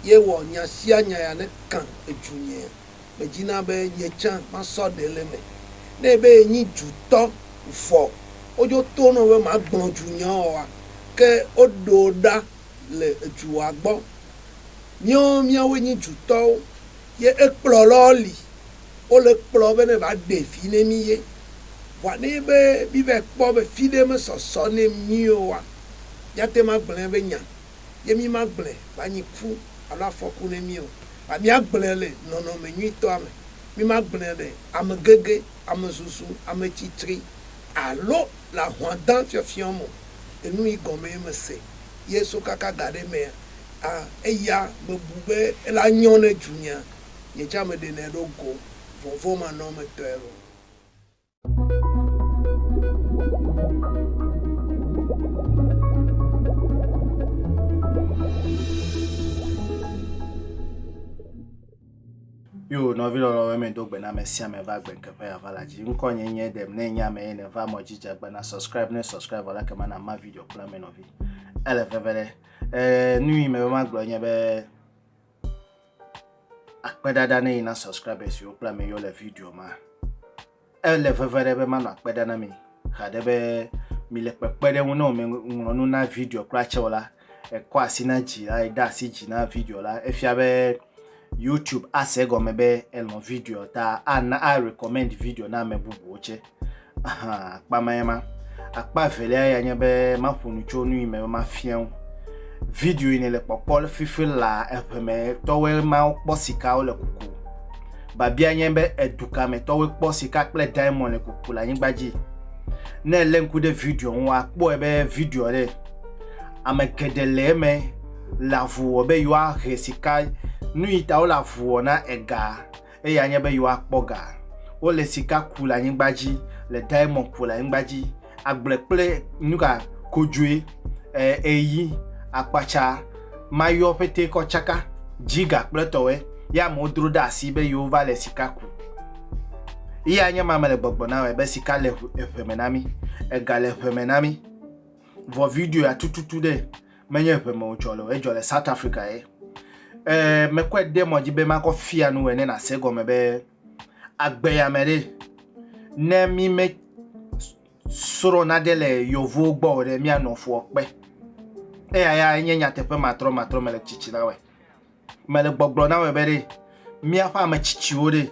Ye wɔ nya sia nya ya ne kã edzu nyea, me dzina be nye tsã ma sɔ ɖe le me. Ne ebe ye nyi dzu tɔ vɔ wo dzo to nɔ be ma gblɔ dzu nya ɔ wa, ke wo ɖo ɖa le edzu wa gbɔ. Míɔn mía woe nyi dzu tɔwo, ye ekplɔ lɔ li wo le kplɔ be ne va ɖe vi ne mí ye. Vɔa ne ebe mí vae kpɔ be fiɖe me sɔsɔ ne mí ɔ wa, mía te ma gblɔɛ be nya. ye mí magblẽ va nyi ku alo afɔku ne mí o, vɔ mía gblẽ le nɔnɔme nyuitɔa me. Mí magblẽ le ame gege, ame zuzu, ame tsi tsri alo le ahwa dã fiɔfiɔ me o. Enu yi gɔme ye me se ye so kaka ga ɖe mea, a eya me bu be ele a nyɔ ne dzunyea, nye tsã me ɖenɛ ɖo go vɔvɔmanɔmetɔe loo. Yo nɔvi lɔlɔ wɛ me do gbe na me sia me va gbe keƒe ya va la dzi. Ŋkɔ nye nye dem ne nya me ye ne va mɔ jija gbe na subscribe ne subscribe wala ke mana ma video kpla me nɔvi. Ele veve ɖe. Eh, nui me ma gblɔ nye be akpe ɖaɖa ne yina subscribers yo kple ame yo le video ma ele veve ɖe be manɔ akpe ɖa na mi haɖe be mi le kpekpe ɖe ŋu ne wòme ŋlɔ nu na video kura tsɛ o la ekɔ asi na dzi la ede asi dzi na video la efia be youtube ase gɔme be elɔ video ta ana a recommend video na ame bubuwo tsɛ Ahan, akpa mae ma. Akpa evelia ya nye be maƒo nu tso nu yi me be mafia wo. Video yi nèle kpɔkpɔ le fifi la eŋeme tɔwoe mawo kpɔ sikawo le kuku. Babia nye be edu ka me tɔwoe kpɔ sika kple diamond le kuku le anyigba dzi. Ne èlé ŋku ɖe video ŋu akpɔe be video ɖe ame geɖe le eme le avu wɔ be yewoahe sika nu yi ta wole avu wɔ na ega. Eye anye be yewoakpɔ ga. Wole sika ku le anyigba dzi, le diamɔn ku le anyigba dzi, agble kple nuka? Kodzoe, e, eyi, akpatsa, mayɔ ƒetee kɔ tsaka, dzi ga kple tɔwɔe, ye amewo dro ɖe asi be yewova le sika ku. Ye anye ma mele gbɔgblɔ na wɔe be sika le eŋe me na mi, ega le eŋe me na mi. Vɔ videoa tututu ɖe. menye ŋe me wòdzɔ le o, edzɔ le South Africa ye. Ee, mekɔe de mɔ dzi be makɔ fia nu wòe ne nàse gɔme be agbe ya me ɖe, ne mi me srɔ̃ nage le yevuwo gbɔ o ɖe, mianɔ fua kpe. Eya ya enye nyateƒe matrɔmatrɔ mele tsitsi na wɔe. mele gbɔgblɔ na wɔ be ɖe míaƒe ame tsitsiwo ɖe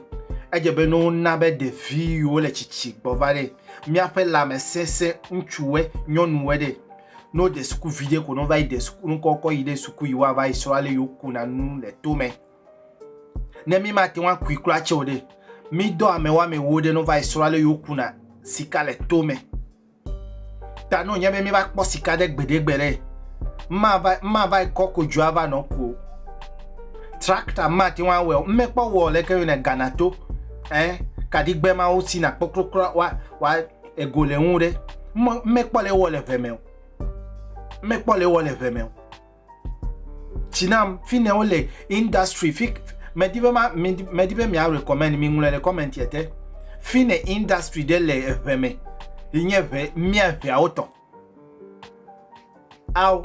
edze be no na be ɖevi yiwo le tsitsi gbɔ va ɖe míaƒe lãmesese ŋutsuwe nyɔnuwe ɖe no de suku vi ɖe ko no va yi de suku nukɔkɔ yi ɖe suku yi wa va yi srɔ ale yiwo kuna nu le to me ne mi ma te wa kui kura tse o ɖe mi dɔ ame wa me wo ɖe no va yi srɔ ale yiwo kuna sika le to me Ta no nye be mi va kpɔ sika ɖe gbeɖe gbeɖe. Ma va ma va kɔ ko dzoa va nɔ ko. Tractor ma ti wa wɔ, me kpɔ wɔ le ke yo ne Ghana to. Eh, kadigbe ma wo si na kpɔ krokro wa wa ego le ŋu ɖe. Me kpɔ le wɔ le veme. Me kpɔ le wɔ le veme. Tsinam fi ne wole industry fi medi be ma medi be mia recommend mi ŋlɔe le comment yɛ te fi ne industry ɖe le eʋe me yi nye ʋe mia ʋeawo tɔ ao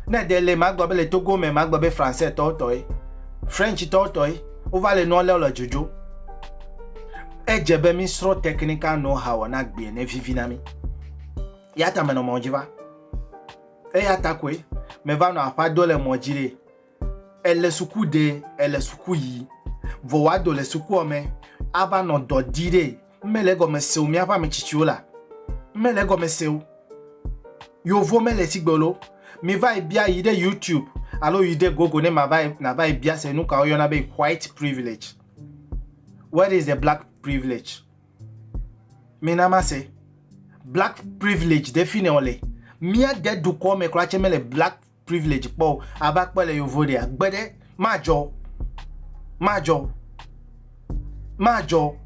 ne de le magba be le togo me magba be français tɔ tɔ ye french tɔ tɔ ye wova le nua leo le dzodzo edze be mi srɔ technical know how na gbie ne vivi na mi ya ta menɔ mɔ dzi va Eya ta koe meva nɔ aƒea do le mɔ dzi ɖe. Ele suku ɖe, ele suku yi. Vɔ wòa do le sukua me ava nɔ dɔ di ɖe. Ŋme le egɔme seo mía ƒe ame tsitsiwo la. Ŋme le egɔme seo. Yovo me le sigbe lo. Mi va yi bia yi ɖe YouTube alo yi ɖe Google ne ma va yi na va yi bia se nuka wo yɔna be white privilege. What is the black privilege? Mina mase. Black privilege ɖe fi ne wòle. Mía de dukɔ me kura tse mele black privilege kpɔ o. Ava kpɔ le yovo ɖea. Gbe ɖe madzɔ. Madzɔ. Madzɔ.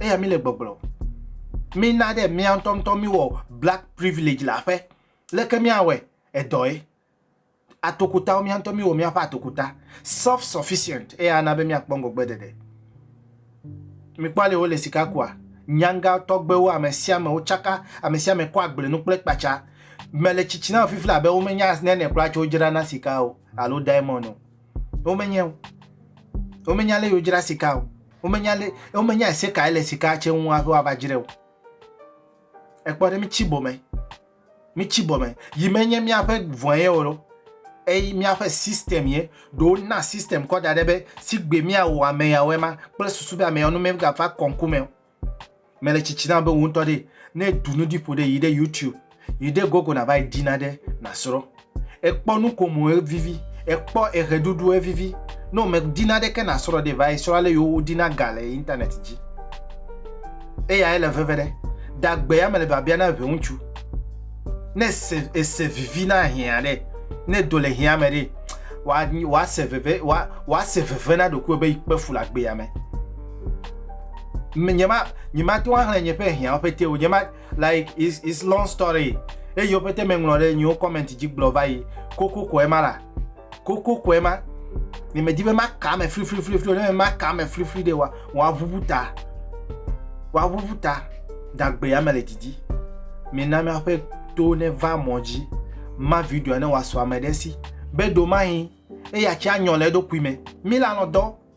Eya mi le gbɔgblɔ. Mina ɖe mía ŋutɔŋutɔ mi wɔ black privilege le aƒe. Leke mía wɔe? Edɔ ye. atokutawo, mía ŋutɔ míwɔ míaƒe atokuta, self sufficient, eya ana be míakpɔ ŋgɔgbeɖeɖe. Mikpɔ ale wole sika kua? Nyanga tɔgbewo, ame sia ame wotsaka, ame sia ame kɔ agble nu kple kpatsa. Mele tsitsi na wò fifila abe womenya nane kura tso wodzrana sika o alo diamond o. Womenyae o. Womenya ale wodzra sika o. Womenya ale, womenya ese kae le sika tse ŋu hafi woava dzrae o. Ekpɔ ɖe mitsi bome. Mitsi bɔ me. Yi menye míaƒe vɔ̃e ye o, eye míaƒe system ye. Ɖo wona system kɔ da ɖɛ be sigbe míawɔ ame yawo ema kple susu be ame yawo ne mígava kɔ ŋku me o. Mele tsitsi na be wò ŋutɔ ɖee, ne èɖu nu ɖi ƒo ɖi yi ɖe YouTube, yi ɖe Google nàva yi ɖi nane nàsrɔ̃. Ekpɔ nukomo evivi, ekpɔ eɣeɖuɖu evivi. Ne wòmedi naɖeke nàsrɔ̃ ɖi va yi srɔ̃ ale yio woɖina ga le internet dzi. Eyae le veve ɖe. Dagbe ya me le biabia na ŋutsu. Ne ese, ese vivi na hiã ɖe, ne do le hiã me ɖe, wòase veve, wòase veve na ɖokuiwò be yi kpe fu le agbe ya me. Nye ma, nye ma to axlẽ nye ƒe hiãwo ƒete o. Nye ma. Like is is long story eyiwo pete me ŋlɔ ɖe nyiwo comment dzi gblɔ va yi koko kɔe ma la koko kɔe ma ne me di be ma ka me fri fri fri fri ne me ma ka me fri fri de wa wa ʋuʋu ta wa ʋuʋu ta dagbe ya me le didi mi na mi aƒe to ne va mɔ dzi ma video ne wa sɔ ame ɖe si be do ma hi eya tsi anyɔ le eɖokui me mi la nɔ dɔ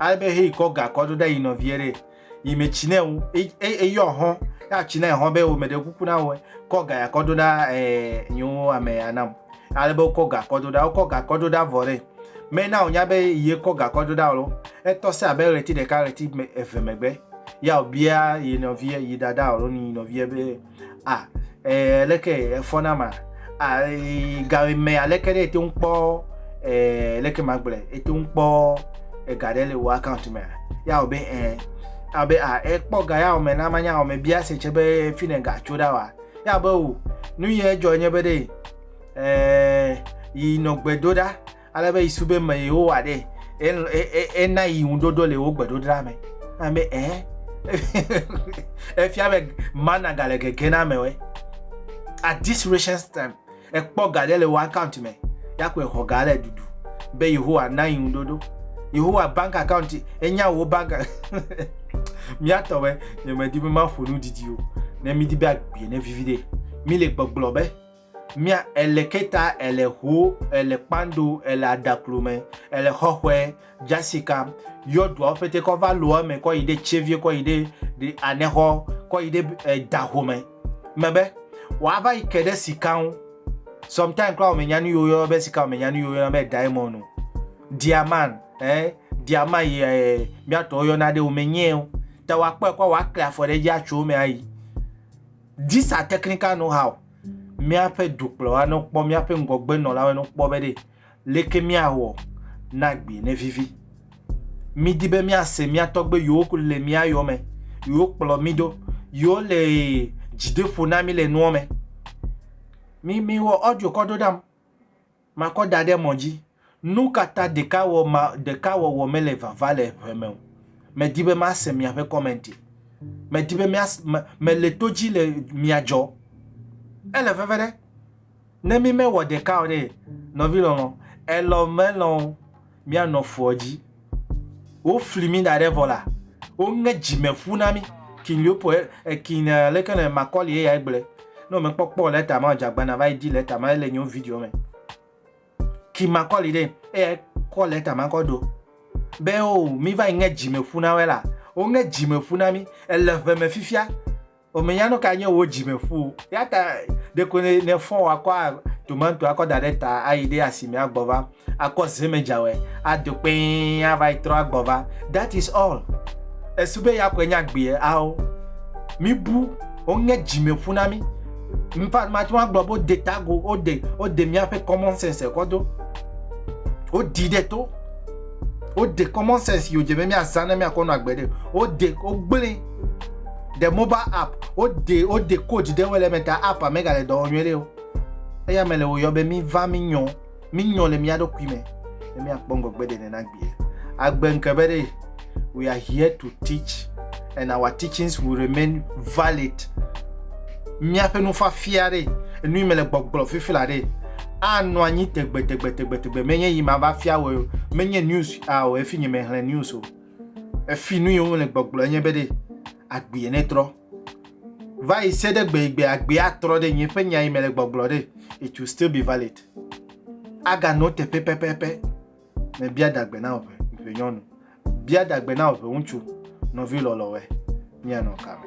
Ale be heyi kɔ ga kɔ do ɖe yi nɔvie ɖe yi me tsi ne wo eyɔ hɔn ya tsi ne hɔn be wo me ɖe kuku na wo kɔ ga ya kɔ do ɖa ɛɛ nyewo ame ya nam ale be wokɔ ga kɔ do ɖa wokɔ ga kɔ do ɖa vɔ ɖe me na wonya be yi kɔ ga kɔ do ɖa lo etɔ se abe ɣleti ɖeka ɣleti eve megbe ya wobia yi nɔvie yi dada alo yi nɔvie be. ah eh, leke efɔ na ma ah eh, gawe me aleke ɖe ete ŋu kpɔ eh, leke ma gblɔ ete ŋu kpɔ ega ɖe le wò account me ya wɔ be eh abe ah ekpɔ ga ya wɔ me na ma nya wɔ me bia se tse be fi ne ga tso ɖa wa ya be o nu yɛ dzɔ nye be ɖe eh yi nɔ gbe do ɖa. Ale be Yesu be me yewowa ɖe ena yi ŋuɖoɖo le wo gbeɖoɖa me. Ame ɛ efia be mana gale gege na amewe. At this recent time, ekpɔ ga ɖe le wo account me ya kɔe xɔ ga le dudu be Yehowa na yi ŋuɖoɖo. Yehowa bank account enya wo bank miatɔ be nyemedi be maƒo nu didi o ne midi be agbie ne vivi ɖe mi le gbɔgblɔ be mia ele keta ele ho ele kpando ele adaklo me ele xɔxɔe jasika yɔduawo pete kɔ va lo eme kɔ yi ɖe tsevie kɔ yi ɖe ɖe anexɔ kɔ yi ɖe eh, daho me mebe wòava yi ke ɖe sika ŋu sometimes kura wòmenya nu yiwo yɔna be sika wòmenya nu yiwo yɔna be diamond o diaman eh diama yi eh, miatɔwo yɔna ɖe wòmenyee o ta wòakpɔe kɔ wòakle afɔ ɖe edzi atso eme ayi These are technical know how míaƒe dukplɔla ne wokpɔ míaƒe ŋgɔgbenɔlawo ne wokpɔ be ɖe leke míawɔ na gbi ne vivi. Mídi be míase mía tɔgbe yiwo le mía yɔme, yiwo kplɔ mí do, yiwo le dzideƒo na mí le nua me. Mi mi wɔ audio kɔ ɖo ɖam. Makɔ da ɖe mɔ dzi. Nu ka ta ɖekawɔ ma, ɖekawɔwɔ mele vava le ʋe me o? Medi be mase miaƒe kɔmɛnti. Medi be mia, me, mele to dzi le miadzɔ. Ele veve ɖe. Ne mi mewɔ ɖeka o ɖe, nɔvi lɔlɔ, elɔ melɔ o. míanɔ fuɔ dzi. Wofli mí da ɖɛ vɔ la, woŋe dzime ƒu na mí. King Leopold, eh, King eh, leke le Macaulay eyae gblɔe. Ne wòmekpɔkpɔ lɛta ma o, dze agbana va yi di lɛta ma, ele nyewo video me. King Macaulay ɖe, eyae kɔ lɛta ma kɔ do. Be o, mí va yi ŋe dzime ƒu na wɛ la, woŋe dzime ƒu na mí. Ele ʋe me fifia. Womenya nu kae nye wò dzimeƒu o. Eya ta ɖeko nèfɔ wò akɔ tomato akɔ da ɖe ta ayi ɖe asime agbɔ va akɔ zemedzawɔe ado kpɛɛ ava yi trɔ agbɔ va. That is all. Èsu be ya koe nye agbee? Ao. Míbu, woŋe dzimeƒu na mí. In fact, mate ŋu agblɔ be wode ta agu, wode, wode míaƒe common sense kɔ do. Woɖii ɖe to. Wode common sense yi wòdze be míazã ne míakɔ nɔ agbe ɖe. Wode, wogblẽe. The mobile app, wode wode code ɖe wele eme ta app mega le dɔ wɔm nyuie ɖe o. Eya me le wòyɔ be mi va mi nyɔ, mi nyɔ le mia ɖokui me, ne mi akpɔ ŋgɔgbe ɖe nena gbie. Agbe ŋke be ɖe, we are here to teach and our teachings will remain valid. Miaƒe nufafia ɖe, enu yi me le gbɔgblɔ fifi la ɖe, anɔ anyi tegbe tegbe tegbe tegbe. Menye yi ma va fia wɔ, menye news a o, efi nye me hlɛ news o. Efi nu yi wole gbɔgblɔ enye be ɖe agbee netrɔ. Va yi se ɖe gbe yi gbe agbee atrɔ ɖe nye ƒe nya yi mele gbɔgblɔ ɖe, it will still be valid. Aganɔ teƒe pɛpɛpɛ. Mebia dagbe na wò ʋe, ʋe nyɔnu. Bia dagbe na wò ʋe ŋutsu. Nɔvi lɔlɔ̃we, míanɔ kame.